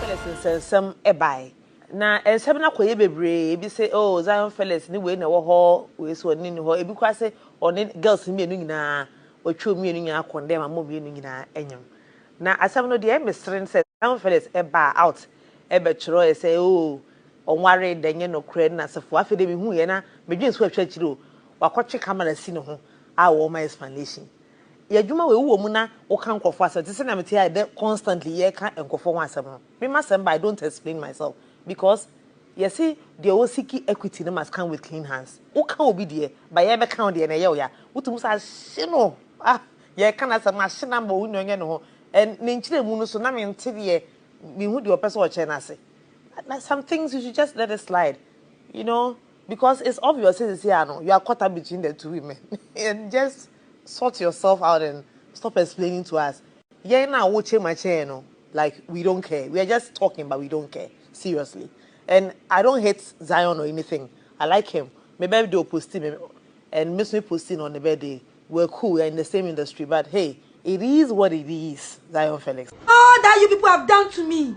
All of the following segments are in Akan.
Felix nsɛnsɛm bae. Na nsɛm no akɔyɛ bebree. Ebi se, oh, Zion Felix ne wei na ɛwɔ hɔ, wei so ɔne no nni hɔ. Ebi koraa se ɔne girls no mmienu nyinaa, watwa wɔn mmienu nyinaa kɔndɛm ama wɔn mmienu nyinaa anyam. Na asɛm no deɛ ɛmesere ne sɛ Zion Felix baa out bɛtwerɛɛ sɛ, oh, ɔnwaree da, ɛnyɛ nokorɛ, ne n'asefoɔ. Afei deɛ mehuiɛ na medwene so ahwɛ akyiri o, wakɔtwe camera asi ne ho a ɔrema explanation. Yɛ adwuma wei, wowɔ mu na woka nkurɔfoɔ asɛm te sɛnea mete ha ɛdɛ constantly yɛreka nkurɔfoɔ ho asɛm no. Me m'asɛm ba I don't explain myself because yɛse deɛ ɔ seek equity no must come with clean hands. Woka obi deɛ but yɛrebɛka wo deɛ na ɛyɛ wo ya. Wotumi sɛ ahye no ah yɛreka n'asɛm ahye no ama ɔnnya ɔnyɛ ne ho and ne nkyerɛmu no so na mente deɛ menhu deɛ ɔpɛ sɛ ɔkyerɛ no ase. Na some things you should just let it slide you know because it's obvious sɛ seesei ara no you are caught up between the two women and just Sort yourself out and stop explaining to us, yɛn na wo kyema kyɛɛ no like we don't care, we are just talking but we don't care seriously and I don't hate Zion or anything, I like him, me birthday ɔposti me and me nso me posti no on ne birthday, we are cool, we are in the same industry but hey it is what it is Zion Felix. All that you people have done to me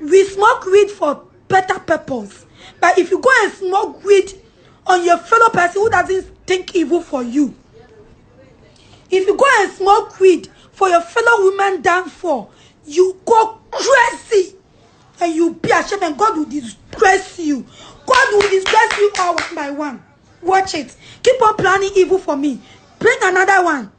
we smoke weed for better purpose but if you go and smoke weed on your fellow person who doesn't think evil for you if you go and smoke weed for your fellow woman downfall you go crazy and you be ashamed and God will disgrace you God will disgrace you all one by one watch it keep on planning evil for me bring another one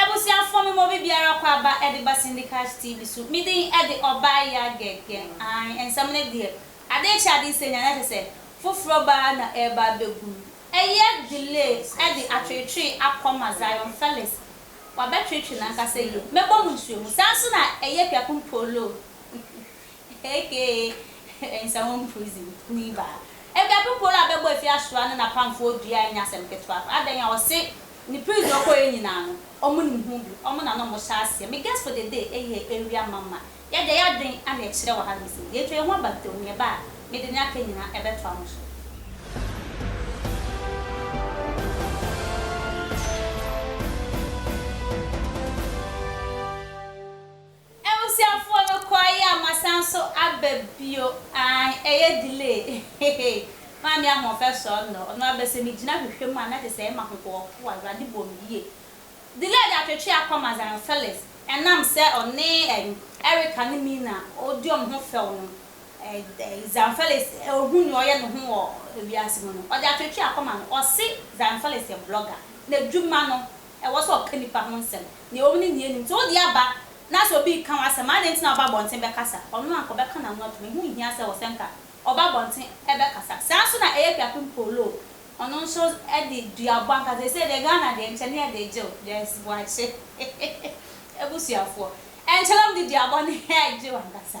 Abusuafoɔ me mɔ bibiara kɔ aba de ba Syndicast TV so me din de ɔbaa ya gɛgɛ aane nsɛm no deɛ adee kye adee sɛ nya na kyɛ sɛ foforɔ baa na ɛɛba abɛgu no ɛyɛ delay ɛde atwetwee akɔ ma Zion Felix wabɛtwetwe nankasa yie mɛbɔ mo nsuo mu saa nso na ɛyɛ Piakumpooloo. Ehekeeee nsa wɔn prison kuni baa ɛbɛ poporo a bɛbɔ efi asoa ne na pamfoɔ dua ɛnyɛ asɛm ketewa koraa adɛn a ɔse ne prison ɔkɔ yɛ nyinaa no ɔmo nim ho bi ɔmo na na ɔmo hyɛ aseɛ me guess for the day ɛyɛ area mama yɛde yɛ adwen ana ɛkyerɛ wɔ ha nom sɛ yɛtwa yɛn ho aba ntɛm nea ɛba a mede nea aka nyinaa ɛbɛtoa mo so. Abusuafoɔ no kɔeɛ a masan nso aba bio ae ɛyɛ delay hehe maame ahoɔfɛ sɔɔ nnɔ ɔno abɛ sɛ me gyina hwehwɛ mu a na kyɛ sɛ ɛyɛ mahohoɔfo awurade bɔ me yie delay de atwetwe akɔma zion Felix ɛnam sɛ ɔne ɛn Erica ne Mina ɔdi wɔn ho fɛw no ɛɛ zion Felix ohu nea ɔyɛ ne ho wɔ wiase mu no ɔde atwetwe akɔma no ɔse zion Felix yɛ blogger na adwuma no Ɛwɔ sɛ ɔka nnipa ho nsɛm, nea onim ne nea onnim. Sɛ wode aba na sɛ obi reka w'asɛm a, adɛn nti na wobɛ abɔnten bɛkasa? Ɔno anka ɔbɛka n'ano atom. Ɛho nhia sɛ wɔsɛnka ɔba abɔnten bɛkasa. Saa ara nso na ɛyɛ Kwiapu Mpoloo. Ɔno nso de duabɔ ankasa. Seesei deɛ Ghana deɛ nkyɛ ne yɛde gyew Joyce Boakye abusuafoɔ. Ɛnkyɛ na wɔde duabɔ no regyew ankasa.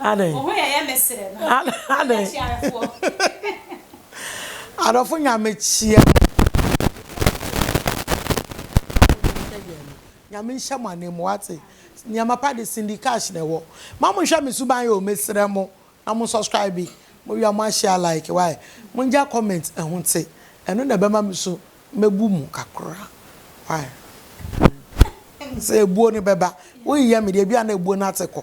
Adɛn? Wo ho yɛ yɛ me serɛ no. Adɛn? Akyiarefoɔ. Adɔfo nyame kyia mo. Nyame nhyɛ mo anan mu wate. Nneɛma pa de Cindy Cash na ɛwɔ. Ma mo nhwɛ me suban yɛ o mesrɛ mo na mo subscribe mo wia mo ahyia like why mo ngya comment ɛho te ɛno na ɛbɛma me so mɛbu mo kakra why sɛ ebuo no bɛba wo yiyɛ me deɛ ebi a na ebuo no ate kɔ.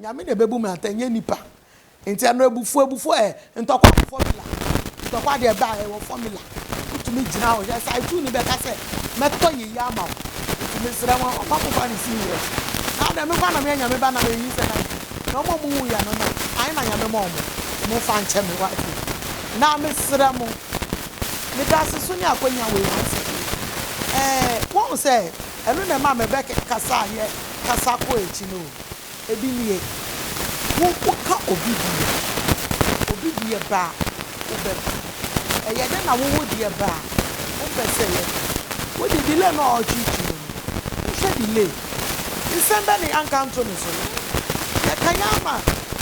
Nyame na ɛbɛbu me atɛn nyɛ nipa nti ɛno abufuo abufuo ɛ ntɔkwa wɔ formula ntɔkwa deɛ ɛbɛ a ɛwɔ formula wotumi gyina hɔ hwɛ saa etu ne bɛka sɛ mɛtɔ yeye ama wo nti mesrɛ wɔn ɔma mo ba ne si nyerɛ na adɛ me ba na meyɛ nyame ba na meyi sɛ na na ɔmo ɔmo wu yɛ no na ayi na nyame ma ɔmo ɔmo fa nkyɛ me wa ake na mesrɛ mo meda ase so ne akwanya wɔ ewu sɛ ɛɛ wɔn sɛ ɛno na ɛma mebɛ kasa yɛ kasa kɔ akyi no Ebi nie, Wo woka obi deɛ, obi deɛ ba a, wobɛka. Ɛyɛ dɛ na wo wo deɛ ba a, wompɛ sɛ ɛyɛ dɛ. Wode delay no a ɔrekyekyere mu no, wohwɛ delay. Nsɛm bɛn na yɛanka anto ne so? Yɛka yɛn ama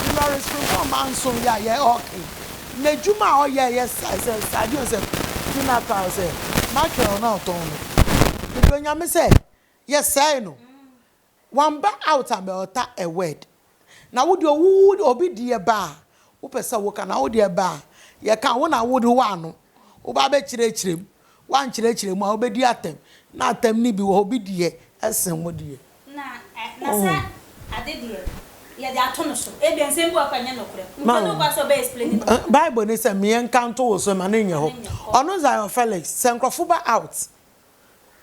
Dolores Frimfon Manson yɛ a yɛ ɔɔka yi, n'adwuma a ɔyɛ a ɛyɛ sɛ sɛ sradeɛ o sɛ tuna tae o sɛ mackerel no a ɔtɔn no. Mede Onyame sɛ yɛsɛe no. Wamba out a bɛ ɔta a word. Na wo deɛ wo wo obi deɛ ba a wo pɛ sɛ wo ka na wo deɛ ba a yɛ ka wo na wo de wo ano wo ba bɛ kyerɛ kyerɛ mu wo ankyerɛkyerɛ mu a wo bɛ di atɛm na atɛm no bi wɔ hɔ bi deɛ ɛsen wo deɛ. Na na sɛ ade deɛ yɛ de ato no so ebia nsɛm bi wɔ hɔ koraa nyɛ nokorɛ nti ɔne wo ba sɛ ɔbɛ explain ne ho. Bible ne sɛ meɛ nka nto wo so ma no nyɛ hɔ ɔno Zion Felix sɛ nkorɔfo ba out.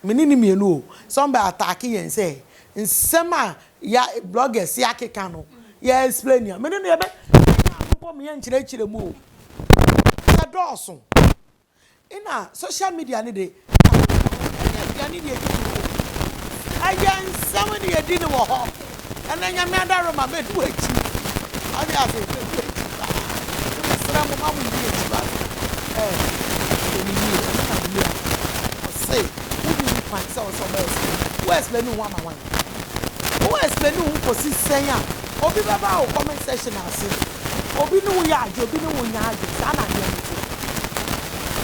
Me ne no mmienu o. Sɛ wɔn bɛ attack yɛn sɛ nsɛm a yɛ bloggers yɛ akeka no yɛ explain a, me ne no yɛ bɛ yɛn ano bɔ mu yɛ nkyerɛkyerɛ mu o. Yɛ dɔɔso. Ɛna social media no de, ɛyɛ aduane ne yɛdi no wɔ hɔ. Ɛyɛ nsɛm ne yɛdi no wɔ hɔ. ɛnɛ Nyame adare ma mɛdu akyi wate ase mɛdu akyi paa nti mesrɛ mo ma mo di akyi wate ɛɛ ɛsɛ ne yie ɛsɛ na wia ɔse wonni ho kwan sɛ ɔsɛ ɔbɛ explain wo explain ho ama wan wo explain ho kɔsi sɛn a obi bɛba wo comment section ase obi ne wo yɛ adwe obi ne wo nya adwe saa na adeɛ no te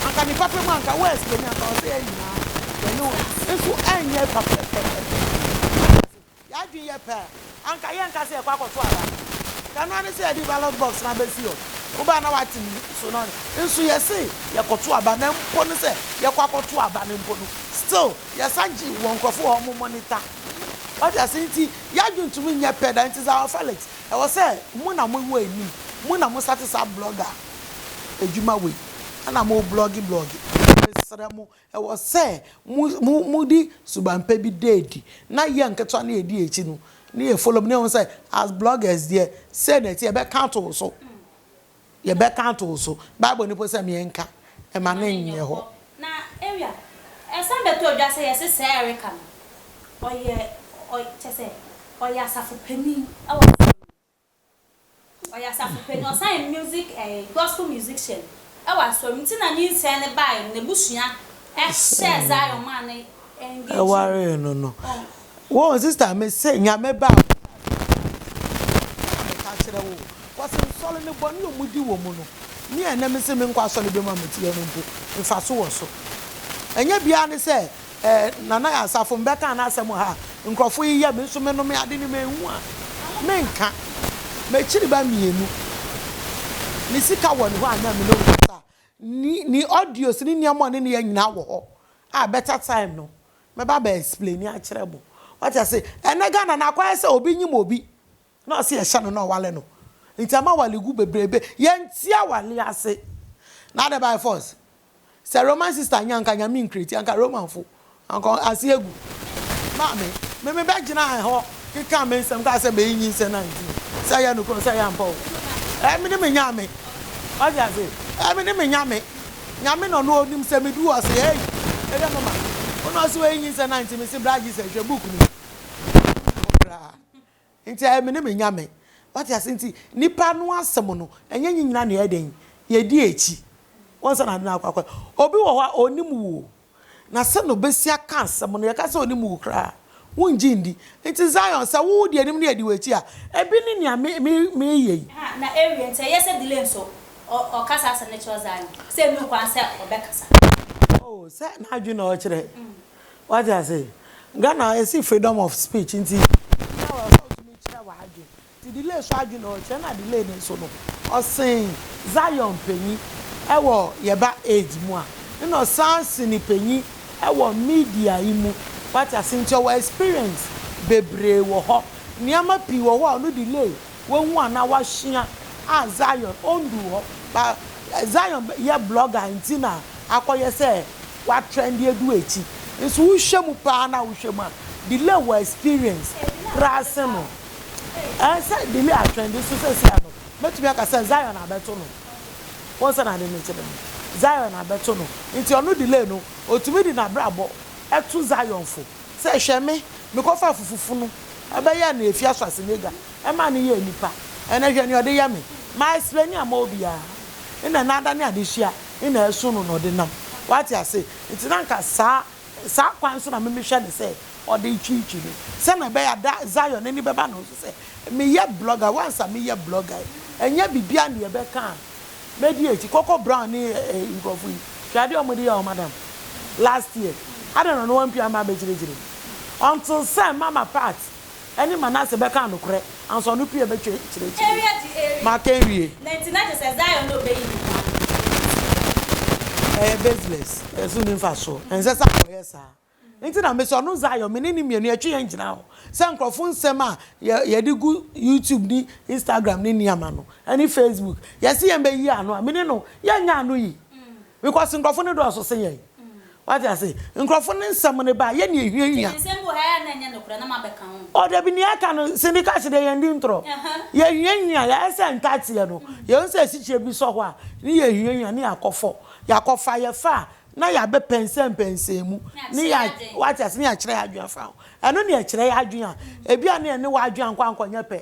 anka ne papa mu anka wo explain anka ɔsɛ yɛ nyinaa yɛne wo nso ɛnyɛ papa pɛpɛpɛ Yɛn adwene yɛ pɛ a, anka yɛrenka sɛ yɛrekɔ akɔto aba. Anka ɛno ara ne sɛ yɛde ballot box no abɛsi hɔ. Wobaa a na woate me so no nso, yɛse yɛkɔto aba na mpo no sɛ yɛkɔ akɔto aba no mpo no, still yɛsan gye wɔ nkurɔfo hɔ a wɔn monitor. Wate ase? Nti yɛn adwene ntumi nyɛ pɛ da. Nti Zawa Felix, ɛwɔ sɛ mo na mo wɔ anim. Mo na mo starte saa blogger adwuma wei na mo blogge blogge. Mesrɛ mo, Ɛwɔ sɛ mode suban pa bi da adi, na yɛ nketewa no yɛdi akyi no na yɛ follow up na yɛhu sɛ as bloggers deɛ sei na ɛteɛ, yɛbɛka ato wo so, yɛbɛka ato wo so, bible no mpo sɛ me nka, ɛma no nyɛ hɔ. Na ewia, ɛsan bɛtɔ dwa sɛ yɛse sɛɛ Erica no ɔyɛ, kyɛsɛ ɔyɛ asafo panin wɔ asafo no mu. Ɔyɛ asafo panyin, ɔsan yɛ music ɛɛ gospel musician ɛwɔ asɔre mu. Nti na nyinsɛn no bae no, n'abusua ɛhyɛɛ Zion maa no engagee mu. Ɛwaree no no. Wohu sister me se Nyame ba a meka kyerɛ wo cause nsɔre no bɔne a wɔdi wɔ mu no me a ɛnnɛ mese menkɔ asɔre bem a mete hɔ no mpo mfaso wɔ so. Ɛnyɛ biara ne sɛ eh, Nana Yansafo, mebɛkaa n'asɛm ha a, nkurɔfo yeyɛ, me nso menome ade no manhu a, menka. M'akyiriba mmienu, ne sika wɔ ne hɔ a na me ne wo kasa a, ne, ne audios ne nneɛma ɔne ne yɛ nyinaa wɔ hɔ a, better time no, mɛba abɛ explaini akyerɛ mo. Wate ase? Ɛnnɛ Ghana no, akɔyɛ sɛ obi nyim obi. Na ɔse ɛhyɛ no na ɔwale no nti ama awale gu bebrebe yɛnte awale ase na adɛ by force sɛ Roman sister nyɛ anka nyame nkreti anka Roman fo anka ase agu maame me me bɛ gyina hɔ keka me nsɛm kaa sɛ mɛyi nyinsɛn na nti sɛ ɛyɛ nokora sɛ ɛyɛ ampa o ɛɛ me ne me nyame ɔde ase ɛɛ me ne me nyame nyame na ɔno onim sɛ me du ɔse ɛyi ɛdɛ mama ɔno ɔse wɔyi nyinsɛn na nti me se bra Jesus hwɛ book no mu Nti ɛyɛ me ne me Nyame. Wate ase? Nti nnipa no asɛm no, ɛnyɛ nye nyina na yɛyɛ dɛn? Yɛdi akyi. Woansa na ade no akɔ akɔ a. Obi wɔ hɔ a, ɔnnim wo o. Na sɛ na ɔbɛsi aka asɛm no, yɛka sɛ ɔnim wo koraa a, wongye ndi. Nti Zion, sɛ wo wodi anim na yɛdi w'akyi a, ɛbi ne nea me, me, mereyɛ yi. Ɛha, na ɛrewie. Nti ɛyɛ sɛ delay nso, ɔ, ɔkasa asɛm no kyerɛ Zion sɛ ɛnni ho kwan sɛ ɔbɛkasa. Oh, sɛ n'adwene na ɔrekyerɛ. Wate ase? Ghana esi freedom of speech nti obiara wɔ hɔ a otumi kyerɛ w'adwene. Nti delay so adwene na ɔkyerɛ na delay no nso no ɔsen Zion panyin wɔ yɛba age mu a nna ɔsan se no panyin wɔ media yi mu. Wate ase? Nti ɔwɔ experience bebree wɔ hɔ. Nneɛma pii wɔ hɔ a ɔno delay wahu anaa wasua a Zion ondu hɔ. But Zion yɛ blogger nti na akɔyɛ sɛ W'atrend adu akyi nso wohwɛ mu paa na wohwɛ mu a delay wɔ experience koraa sen no ɛɛ sɛ delay atrendi nso sɛsi a no mɛtumi aka sɛ Zion abɛto no wɔn sɛ n'ade no kyerɛ no Zion abɛto no nti ɔno delay no otumi de n'abrabɔ ɛto Zion fo sɛ hwɛ me mekɔfa fufufunu ɛbɛyɛ na efi aso ase ne gya. Ɛma no yɛ nipa. Ɛnɛ hwɛ nea ɔde yɛ me. Mayɛ srani amma obiara. Nnɛ n'ada ne adesua na ɛso no na ɔde nam. Wate ase? Enti na anka saa, saa kwan so na me mehwɛ no sɛ ɔde retwitwi me. Sɛnea ɛbɛyɛ a da Zion ani bɛba ne ho so sɛ meyɛ blogger. Once a meyɛ blogger yi, ɛnyɛ biribiara nea ɛbɛka a mɛdi akyi. Koko Brown ne ɛɛ nkurɔfo yi, hwɛ adeɛ wɔde yɛɛ wɔn madam last year. Adɛn na ɔno wampue amma abɛkyerɛkyerɛ mu? Until sɛ Mama Pat. ne Manase bɛkaa nokorɛ, ansa ɔno pii abɛtwa akyire akyire. Maka nwie. Na nti na kyerɛ sɛ Zion na ɔbɛyi ne ho ano akyire. Ɛyɛ baseless, ɛso nni mfasoɔ, ɛnsɛ sɛ akɔyɛ saa. Nti na mesɛ ɔno Zion me ne no mmienu yɛtwe yɛn gyina hɔ sɛ nkorɔfoɔ nsɛm a yɛde gu YouTube ne Instagram ne nneɛma no ne Facebook yɛse yɛn bɛyi ano a me ne no yɛnyɛ ano yi. Because nkurɔfo no dɔɔso sen yɛn. Wate ase? Nkurɔfo no nsɛm no ba, yɛn na ehiahia. Oh, dabi, nea aka no, Cindy Cash deɛ yɛn di ntorɔ. Yɛhiahia, yɛayɛ sɛ ntateɛ no, yɛhu sɛ asikyire bi sɔ hɔ a, ne yɛhiahia, ne yɛakɔfɔ, yɛakɔfa, yɛfa a, na yɛabɛ pɛnsɛnpɛnsɛn mu, ne yɛ, wate ase, ne yɛakyerɛ yɛn adwene afa ho. Ɛno na ɛkyerɛ yɛn adwene a, ebia na yɛne w'adwene ankɔ ankɔnyɛ pɛ.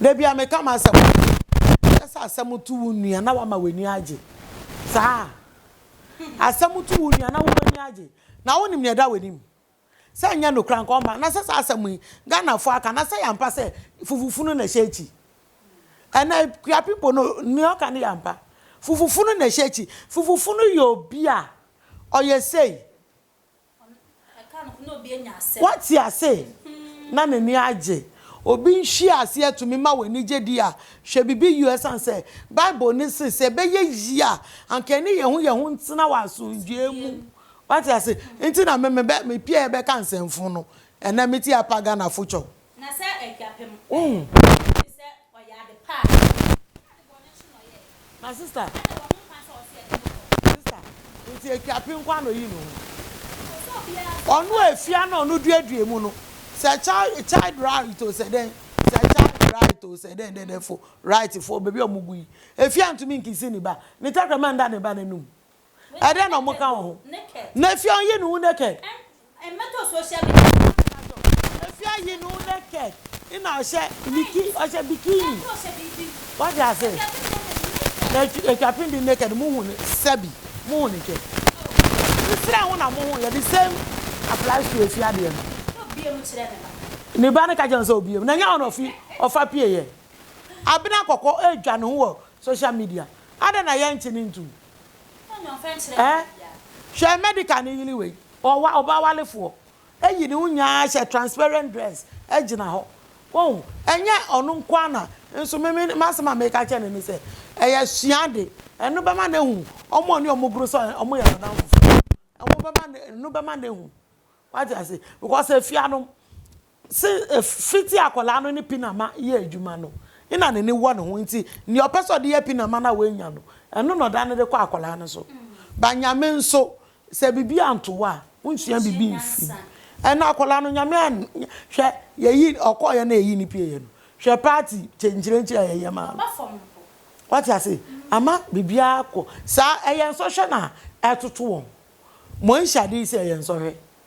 Da bi a meka m'asɛm a, ɛsɛ sɛ asɛm to wo nua na wama w'ani agye. Saa a, asɛm to wo nua na wo w'ani agye. Na wonim nea ɛda w'anim. Sɛ nyɛ nokora nka ɔmma. Na sɛ saa asɛm yi, Ghanafoɔ aka, na sɛ yɛ ampa sɛ fufufunu na ɛhyɛ akyi. Ɛnɛ, Kua people no, nea ɔka no yɛ ampa. Fufufunu na ɛhyɛ akyi. Fufufunu yɛ obi a ɔyɛ sei. Woate ase? Ná n'ani agye. Obi nhyiase atumi ma w'ani gye di a, hwɛ biribi yiw esiane sɛ Bible no se sɛ ɛbɛyɛ yiye a, anka yɛne yɛn ho yɛn ho ntena wɔ asomdwoe mu. Woate ase? Enti na me, mebɛ, mepiae bɛka nsɛmfo no. Ɛnnɛ, mete Apa Ghana Fokyɔm. Na sɛ adwapem eh wogye di sɛ ɔyɛ ade pa a. Ɛna ade bɔne nso na ɔyɛ eh. My sister. Ɛna wɔ ho kwan sɛ ɔte ɛde no kɔ. My sister, nti adwapem nko ara na oyi ne ho. Oh sɛ obiara nso. Ɔno a efi a na ɔno duadua mu no. Sɛ child child right o sɛ dɛn. Sɛ child right o sɛ dɛn dɛdɛfo right fo baabi a wɔgu yi. Efi a ntumi nkisi ne ba. Ne tɛkrɛma nda ne ba n'anum. Ɛdɛn na wɔka wɔ ho? Nephi ayi ne ho naked. Nephi ayi ne ho naked na ɔhyɛ biki ɔhyɛ bikini. Wate ase? Na atwa pin di naked mo hu ne sɛbi mo hu ne kyɛ. Nsira ho na mo ho yɛ the same apply to efi adeɛ no. Ne ba no ka kyerɛ no sɛ obiem na nyɛ ɔna ɔfi ɔfa pie yɛ. Abena kɔkɔ ɛdwa ne ho wɔ social media. Adɛn na yɛnkye ne ntum? Eh hwɛ medical no yere wei ɔwa ɔba walefoɔ ayi ne ho nyinaa ahyɛ transparent dress agyina hɔ wohu ɛnyɛ ɔno nko ara na nso me me m'asɛm a meka kyɛ ne ne sɛ ɛyɛ sua de ɛno bɛma no ahu wɔn a ɔne wɔn goro sɛ wɔn yɛ n'adamfofoɔ ɛno bɛma no ɛno bɛma no ahu wate ase because efia no Se fitsi akwadaa no ne pinama yɛ edwuma no, nna n'enyi wɔ no ho ntsi, nea ɔpɛ sɛ ɔde yɛ pinama no a oenya no, ɛno na ɔdan no de kɔ akwadaa no so. Ba Nyame nso, sɛ biribi anto wo a, wonsua biribi mfi mu. Ɛnna akwadaa no, Nyame an, hwɛ, yɛyi, ɔkɔeɛ na yɛyi no pieeɛ no, hwɛ party kyenkyerenkye a yɛyɛ maa no. Wate ase? Ama biribiara kɔ saa. Ɛyɛ nsɔhwɛ na ɛtoto wɔn. Moahyɛ ade yi sɛ ɛyɛ nsɔhwɛ?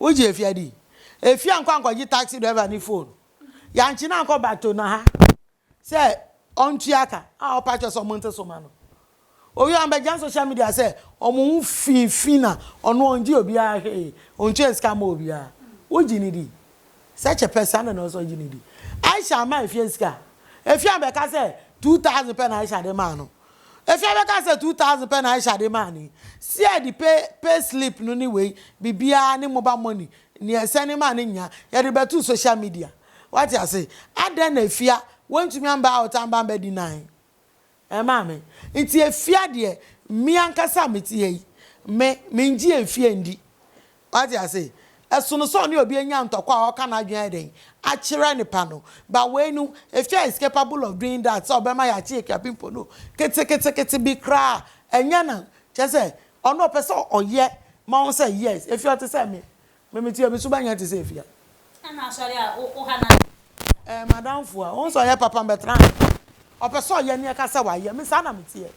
Wogye afia di? Afia nkɔ ankɔgye taxi driver ne phone. Yankye no ankɔ Batona ha sɛ ɔntua ka a ɔpa kyɛ sɛ ɔmo nte so ma no. Owie a ɔmbɛgyina social media sɛ ɔmo ho fi fi na ɔno ɔngye obiara hwee, ɔntua sika mma obiara. Wogye no di? Such a person adan na ɔsɛ ɔgye no di. Aisha mmaa afia sika a, afia bɛka sɛ two thousand pɛ na Aisha de maa no. Efia bɛka sɛ two thousand pɛ na Aisha de maa no yi. Sear de pay pay slip no ne wei biribiara ne mobile money nea ɛsɛne maa no nyinaa yɛde bɛtoo social media. Wate ase? Adɛn na Efia wantumi amba out amba amba deny ɛɛ maame? Nti Efia deɛ me ankasa a mete ha yi me mengye Efia ndi. Wate ase? Ɛsono sɛ ɔne obi anya ntɔkwa a ɔka n'adwene ayɛ dɛn akyerɛ ne pa no. But wei no, Efya is capable of doing that sɛ ɔbɛma yɛakye akuapem mpo no, ketekete bi koraa ɛnyɛ nan. Kyerɛ sɛ, ɔno ɔpɛ sɛ ɔyɛ ma wo sɛ, Yes, Efya ɔte sɛ me. Me, me te, me so bɛnyɛ te sɛ Efya. Ɛna asɔre a wo ha na. Eh madamfo a ɔnsɛ ɔyɛ papa mbɛtra ha ɔpɛ sɛ ɔyɛ ne ɛka sɛ wayɛ me saa na meteɛ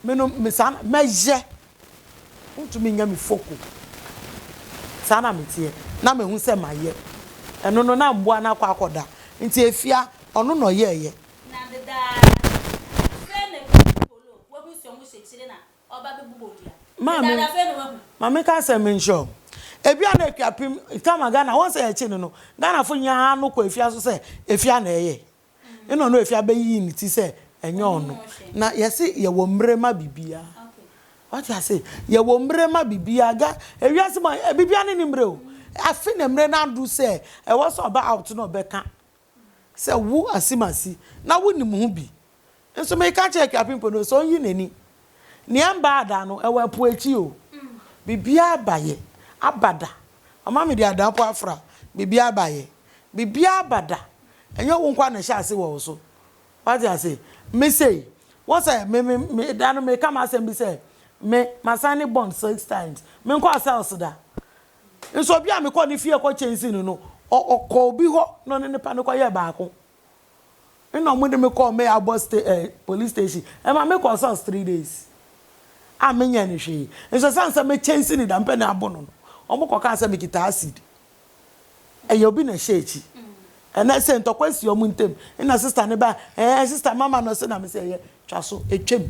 me no me saa na mɛyɛ wontumi nyɛ me foko saa na meteɛ na mehu sɛ mayɛ ɛno no na mboa no akɔ akɔda nti efia ɔno na ɔyɛɛyɛ. Na dedaa na frɛ me polo wahu sɛ ɔmo hyɛ kyire na Ɔba bɛ bobɔ dua. Maa me, Ɛda da fɛ na wahu. ma me ka sɛ me nhyɛ ɔm. Ebi a na akua pem tama Ghana wɔn sɛ yɛkye no no Ghana fo nyaa haa no kɔ afia so sɛ afia na ɛyɛ ɛna ɔno afia bɛ yii ne ti sɛ ɛnyɛ ɔno na yɛse yɛ wɔ mmrɛ ma bibiaa wate ase yɛ wɔ mmrɛ ma bibiaa Ga ewiase mu a bibiaa ne ne mmrɛ o afe na mmrɛ no aduru sɛ ɛwɔ sɛ ɔbɛ out na ɔbɛ ka Sɛ wo asim asi na wonim ho bi nso meka akyerɛ Akuapem Pono no sɛ ɔnyi n'ani. Nea ɛmba ada no ɛwɔ ɛpo akyi o. Biribiara ba yɛ aba da. Mama mede ada mpo afra. Biribiara ba yɛ. Biribiara ba da. Ɛnyɛ wo nkoa na ɛhyɛ ase wɔ wo so. Wate ase? Me sei, wohu sɛ me me me da no meka m'asɛm bi sɛ me ma signing bond six times. Menkɔɔ cells da. Nso obi a me kɔɔ ne fie kɔ kyɛnse no no, ɔ, ɔkɔɔ obi hɔ na ɔne ne pa no kɔyɛɛ baako. Ɛna wɔde me kɔɔ me abɔ sta, eh, police station. Ɛma me kɔɔ sɔs three days. A menyɛɛ no hwee. Nso ɛsiane sɛ me kyɛnse no da mpɛ na abo no no, wɔn kɔ kaa sɛ me kita acid. Ɛyɛ obi na ɛhyɛ akyi. Ɛna ɛsɛ ntɔkwa asi wɔn ntem. Ɛna sista no ba, eh, sista mama no se na me se ɛyɛ, twa so, ɛtwam.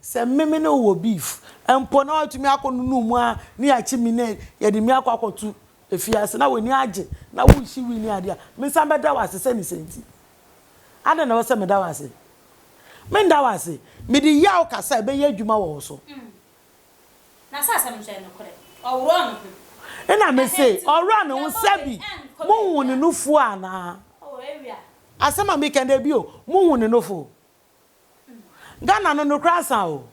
Sɛ meme ne wo wɔ beef mpo na watumi akɔ nunuu mu ara na yɛakye me na yɛde me akɔ akɔto afiase na w'ani agye na wohye wii ne ade a, mensan bɛda wo ase sɛ ne sɛ nti. Adɛn na ɛwɔ sɛ meda wo ase? Mennda wo ase. Mede yaw ka sɛ ɛbɛyɛ adwuma wɔ wo so. Mm. Na sɛ asɛm no nso yɛ nokorɛ, ɔworɔɔ ne ho. Ɛna me se, ɔworɔɔ ne ho sɛ bi, mohuu ne nufoɔ anaa? Oh, awia. Asɛm a meka ni, dabi o, mohuu ne nufoɔ. Ghana no nokorɛ asa o.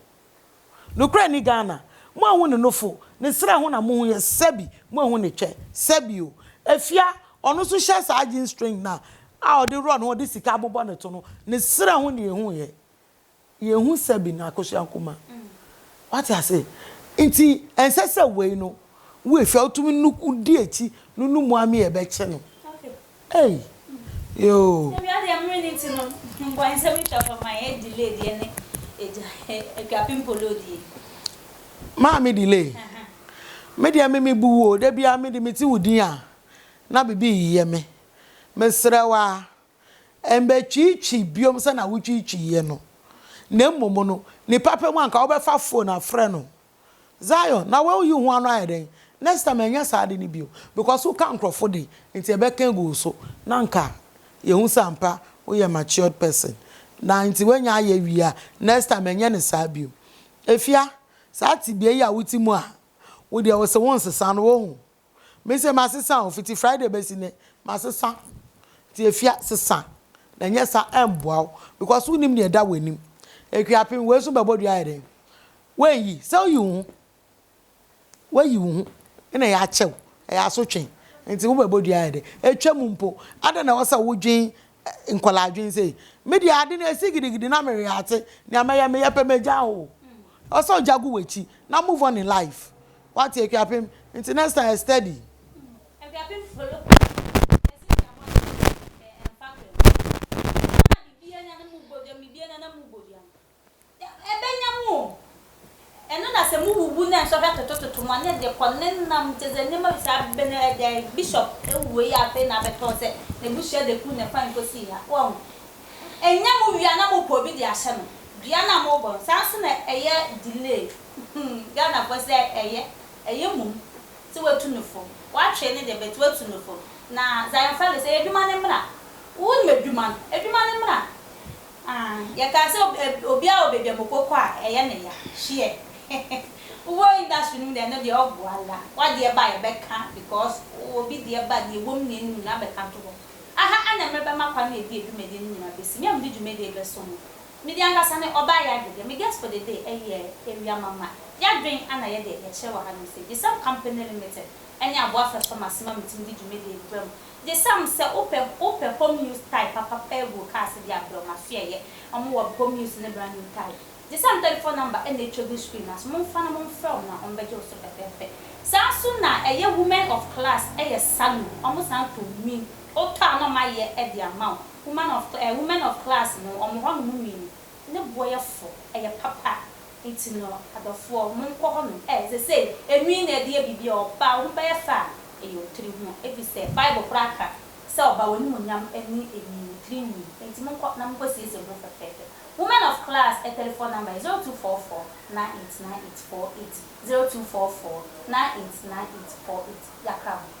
Nokorɛ ni Ghana mo ahu ne nofo ne serɛ ho na mohu yɛ sɛbi mo ahu ne twɛ sɛbi o afia ɔno nso hyɛ saa jean string no a a ɔde run ɔde sika abobɔ ne to no ne serɛ ho na yɛhu yɛ yɛhu sɛbi no Akosua Nkrumah wate ase nti ɛnsɛ sɛ wei no wo afia wotumi nu di akyi no no mu a me yɛbɛkye no. Ei yoo. Mea deɛ mmere no nti no mboansɛm no twa fam a yɛ delay deɛ ne agya Akuapem Polo deɛ. Maame delay me deɛ me mebu wo o da biara me de me te wo din a na bibi reyɛ me mesrɛ wo ara mbɛ twiitwi biom sɛna wo twiitwi yɛ no na mmom no nipa pɛ mu a nka wo bɛfa phone afrɛ no Zion na woyi ho ano ayɛ dɛn next time ɛnyɛ saa ade no bio because wo ka nkorɔfo de nti ɛbɛka agu wo so na anka yɛhu sɛ ampa woyɛ matured person na nti woanya ayɛ wie a next time ɛnyɛ no saa bio Afia saa tebea yi a wote mu a wo deɛ wose wonsesa no wohu Me se masesa o fiti Friday besi nnɛ masesa nti efia sesa na nyɛ sa ɛmboa wo because wonim nea ɛda w'anim Akuapem wei so bɛbɔ dua ayɛ dɛn woanyi sɛ woyi wo ho woayi wo ho na ɛyɛ akyɛ wo ɛyɛ asotwe nti wobɛbɔ dua ayɛ dɛn ɛtwam mpo adɛn na ɛwɔ sɛ wodwen nkɔla adwen sei me deɛ ade no ɛsi gidigidi na mereyɛ ate nea mɛyɛ meyɛ pɛ mɛgya o ɛwɔ sɛ ogya gu w'akyi na move on in life Wate Akuapem nti next time yɛ steady. Akuapem follow me yɛse hyɛ mo ase hwɛ ɛmfa hwɛ mo nsa na bibia nya na mo boduam bibia nya na mo boduam ɛbɛnya mo o ɛno na sɛ mo wuwu na nsɔhwɛ totototo mo anyɛ deɛ kɔ ne nam kyɛ sɛ nneɛma bi saa bɛ na ɛdɛ bishop awuo yi afei na abɛtɔ sɛ n'abusua de ku ne kwan kɔsii ha wahu ɛnyɛ mo wie a na mo pɛ obi de ahyɛ no dua no a mo bɔ no saa nso na ɛyɛ delay Humm Ghanafoɔ sɛ ɛyɛ ɛyɛ mmom sɛ watu no fo watwee no deɛ but watu no fo na Zion Felix ɛyɛ adwuma no mmra wonim adwuma no adwuma no mmra aah yɛkaa sɛ obiara wɔ baabi a moko kɔ a ɛyɛ no ya hyeɛ wowɔ industry no mu deɛ ɛno deɛ ɔgo ala wadeɛ ba a yɛbɛka because obi deɛ ba deɛ ɛwom ne ɛnnim no abɛka to hɔ aha ɛna mɛbɛma kwan na ɛde adwumadie no nyina bɛsi me a mede dwumadie bɛso mo Me de ankasa ne ɔbaa yɛ ade dɛ me guest for the day ɛyɛ awia mama yadwen ana yɛ deɛ yɛkyerɛ wɔ ha nom sɛ gyesam company limited ɛne aboa fɛsɔ mase ma metumi de dwumadie brɛ mo gyesam sɛ wopɛ wopɛ home use tie papa pɛɛ gu cars deɛ a brɛ mo aso yɛyɛ ɔmo wɔ home use ne brand new tie gyesam telephone number ɛna ɛtwa gu screen no aso mo nfa na mo nfrɛ ɔmo na ɔmo bɛgye wo so fɛfɛɛfɛ saa nso na ɛyɛ women of class ɛyɛ salon ɔmo san tɔ nwin wotɔ a na ɔmo ayɛ ɛde ama wo Woman of eh women of class no wɔn hɔ nom mmienu ne boɔ yɛ fo ɛyɛ papa nti no adɔfoɔ mo nkɔ hɔ nom eh sesei enwi na ɛdeɛ biribi a ɔbaa wo ho bɛyɛ fɛ a ɛyɛ wo tiri ho efisɛ bible koraa ka sɛ ɔbaa w'animuonyam ne enwi wo tiri nwi nti mo nkɔ na mo nkɔ siesie mo ho fɛfɛɛfɛ woman of class eh telephone number yɛ zero two four four nine eight nine eight four eight zero two four four nine eight nine eight four eight yɛakra ho.